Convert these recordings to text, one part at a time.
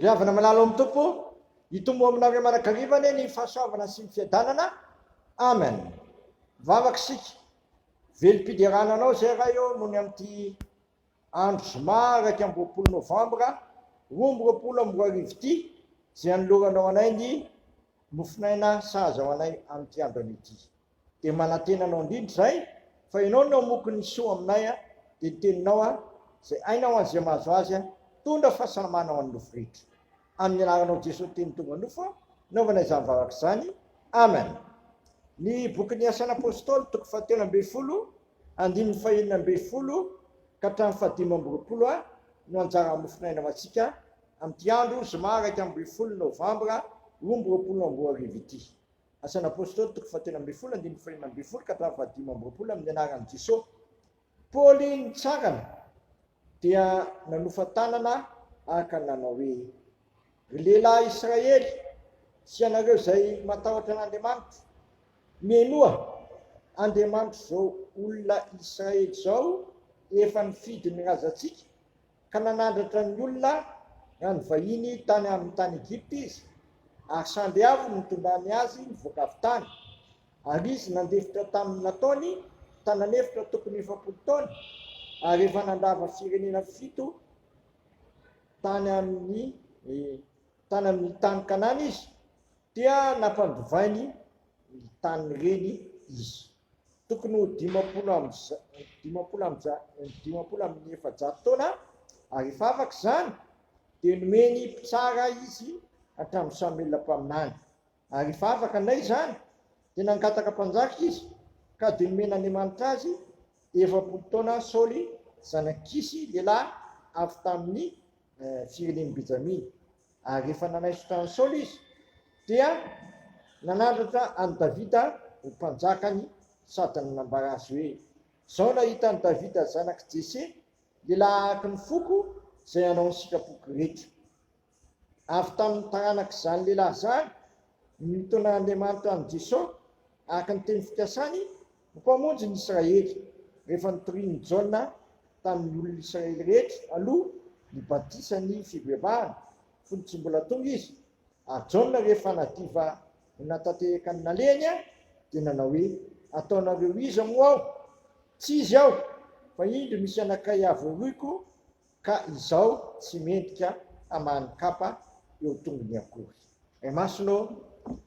Ry havana malala ao amin'ny Tompo, hitombo aminareo manakariva anie ny fahasoavana sy ny fiadanana. Amen. Vavaka isika. Velom-piderana anao izay raha eo mony amin'ity andro zoma iraika amby roapolo novambra roa amby roapolo amby roa arivo ity izay anoloranao anay ny mofonaina sahaza ho anay amin'ity andro an'ity. Dia manantena anao indrindra izahay fa ianao no hamoky ny soa aminay a! Dia ny teninao a! Izay aina ho an'izay mahazo azy a! Tondra fahasalamana ho an'ny nofo rehetra. Amin'ny anaranao Jesoa Teny tonga nofo a! Naovana izany vavaka izany. Amen. Ny bokin'ny Asan'ny Apôstôly toko fahatelo ambin'ny folo andininy fahenina ambin'ny folo ka hatramin'ny fahadimy amby roapolo a! no anjaran'ny mofon'aina ho antsika amin'ity andro zoma iraika ambin'ny folo novambra roa amby roapolo amby roa arivo ity. Asan' Apôstôly toko fahatelo ambin'ny folo andininy fahenina ambin'ny folo ka hatramin'ny fahadimy amby roapolo amin' ny anaran' i Jeso. Paoly nitsangana dia nanofa tanana araka ny nanao hoe, Ry lehilahy Israely sy ianareo izay matahotra an' Andriamanitra, mihenoa, Andriamanitr' izao olona Israely izao efa nifidy ny razantsika ka nanandratra ny olona raha nivahiny tany amin'ny tany Egypta izy, ary sandry avo no nitondrany azy nivoaka avy tany, ary izy nandefitra tamin'ny nataony tanan' efitra tokony efapolo taona, ary efa nandrava firenena fito tany amin'ny tany amin'ny tany Kanana izy, dia nampandivainy ny tanin'ireny izy. tokony ho dimampolo amby efajato taona ary rehefa afaka izany dia nomeny mpitsara izy hatramin'ny Samoela mpaminany. Ary rehefa afaka indray izany dia nangataka mpanjaka izy ka dia nomen'Andriamanitra azy efapolo taona Saoly zanak'i Kisy lehilahy avy tamin'ny firenen'i Benjamina. Ary rehefa nanaisotra an'i Saoly izy, dia nanandratra an'i Davida ho mpanjakany sady nanambara azy hoe, Izao nahita an'i Davida zanak'i Jese, lehilahy araka ny foko, izay hanao ny sitrapoko rehetra. Avy tamin'ny taranak'izany lehilahy izany no nitaonan'Andriamanitra an'i Jesosy, araka ny teny fikasany, Ny Mpamonjy ny Israely, rehefa nitorian'i Jaona tamin'ny olon'Israely rehetra aloha ny batisan'ny fivebahana, fony tsy mbola tonga Izy, ary Jaona rehefa nadiva ho natanteraka ny nalehany, dia nanao hoe, Ataonareo iza moa aho? Tsy izy aho, fa indro misy anankiray avoiroiko Ka izao tsy mendrika hamaly kapa eo tongony akory. Ray Masina ô,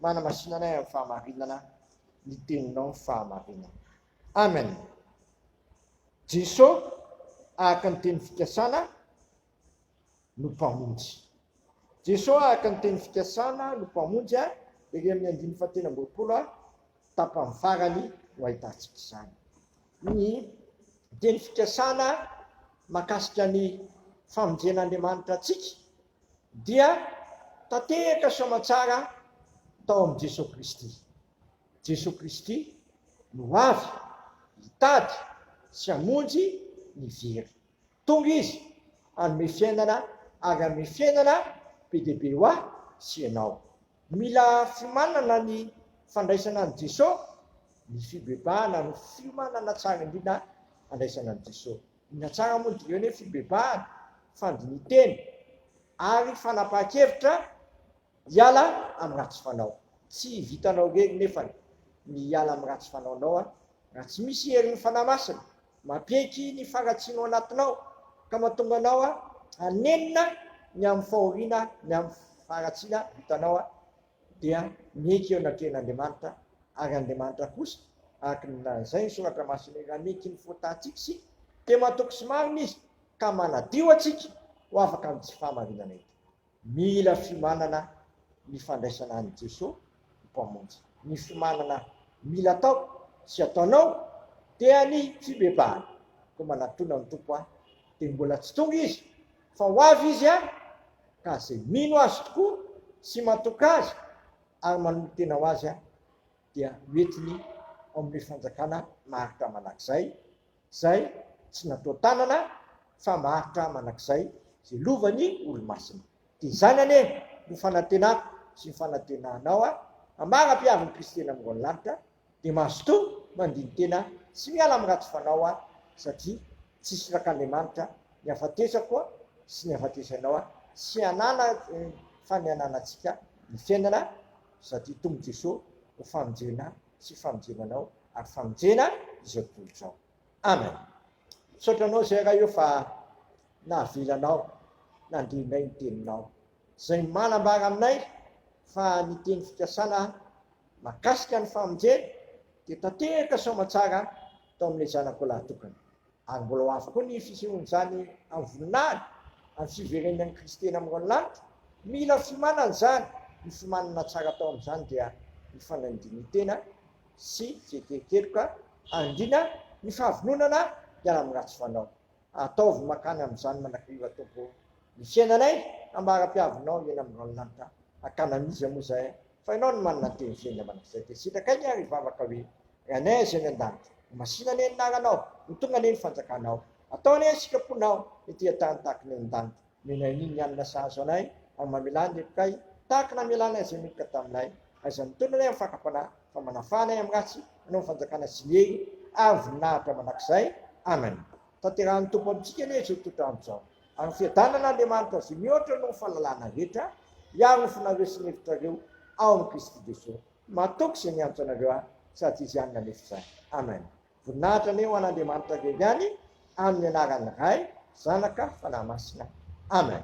manamasina anay amin'ny fahamarinana ny Teninao ny fahamarinana. Amen. Jeso araka ny teny fikasana no Mpamonjy. Jeso araka ny teny fikasana no Mpamonjy, ery amin'ny andininy fahatelo amby roapolo, tapany farany no ahitantsika izany. Ny dieny fikasana mahakasika ny famonjen'Andriamanitra antsika dia tanteraka soamantsara tao amin'i Jesoa Kristy. Jesoa Kristy no avy hitady sy hamonjy ny very. Tonga Izy, hanome fiainana, ary hanome fiainana be dia be ho ahy sy ianao. Mila fiomanana ny fandraisana an'i Jeso, ny fibebahana no fiomanana tsara indrindra handraisana an'i Jeso. Inona tsara moa no dikan'izany hoe fibebahana? Fandinintena ary fanapahan-kevitra Hiala amin'ny ratsy fanao. Tsy vitanao irery nefany ny hiala amin'ny ratsy fanaonao a! Raha tsy misy herin'ny Fanahy Masina mampiaiky ny faharatsianao anatinao ka mahatonga anao hanenina ny amin'ny fahoriana ny amin'ny faharatsiana vitanao a! dia miaiky eo anatrehan'Andriamanitra ary Andriamanitra kosa araka ny lazain'ny Soratra Masina hoe raha miaiky ny fahotàntsika isika dia matoky sy marina Izy ka manadio antsika ho afaka amin'ity fahamarinana ity. Mila fiomanana ny fandraisana an'i Jesoa ho Mpamonjy. Ny fiomanana mila atao sy ataonao dia ny fibebahana. Koa manatona ny Tompo ahy dia mbola tsy tonga Izy fa ho avy Izy any ka izay mino Azy tokoa sy matoky Azy ary manolo-tena ho Azy dia hoentiny ao amin'ny fanjakana maharitra mandrakizay Izay tsy natao tanana fa maharitra manak'izay ze lovany olo-masina. Dia izany anie no fanantenako sy ny fanantenanao a Amara mpiaro ny Kristy eny amngon lanitra dia mazotoa mandiny tena sy miala am ratsy fanao a satria tsisy rak'Andriamanitra ny hafatesako a sy ny hafatesanao a tsy hanana fa ny hananantsika ny fiainana satria Tompo Jeso ho fanonjena sy famonjena anao ary famonjena izao tontolo izao. Amen. Misaotra anao zay Ray o fa nahavelanao nandrinay ny teninao. Zay manambara aminay fa ny teny fikasana makasika ny famonjena dia tanteraka soamatsara tao amin'ilay zanakao lahy tokana. Ary mbola ho avy koa ny fisehoan'izany amin'ny voninahiny, amin'ny fiveren'ny an'i Kristy eny amin'ny ranon-lanitra. Mila fiomanana izany. Ny fiomanana tsara atao amin'izany dia ny fanaindian-tena sy fiekenkeloka, andriana, ny fahavononana hiala amin'ny ratsy fanao. Ataovy mankany amin'izany manakarivo Atompo ô! Ny fiainanay hambara-piavinao eny amin'ny ranon-lanitra, hakana an'iza moa izay Fa ianao no manana ny teny fiainga mandrakizay dia sitraka aingana ary hivavaka hoe, Ry Anay Azz any an-danitra, ho masina anie ny anaranao, ho tonga anie ny fanjakanao, atao anie ny sitraponao ety an-tany tahaka ny any an-danitra. Menay anie ny hanina sahaza anay, ary mamelà ny lepokay tahaka ny namelanay izay meloka taminay, ary izay mitondra anay amin'ny fakam-panahy, fa manafaha anay amin'ny ratsy, hanao ny fanjakana sy ny hery ary voninahitra mandrakizay. Amen. Tanterahan'ny Tompo amintsika anie izao toetr'andro izao. Ary fiadanana Andriamanitra izay mihoatra noho ny fahalalana rehetra hiaro ny fonareo sy ny hevitrareo ao amin'i Kristy Jesoa. Matoky izay miantso anareo ahy sady Izy ihany nanefy izany. Amen. Voninahitra anie ho an'Andriamanitra irery ihany amin'ny anaran'ny Ray, Zanaka, Fanahy Masina. Amen.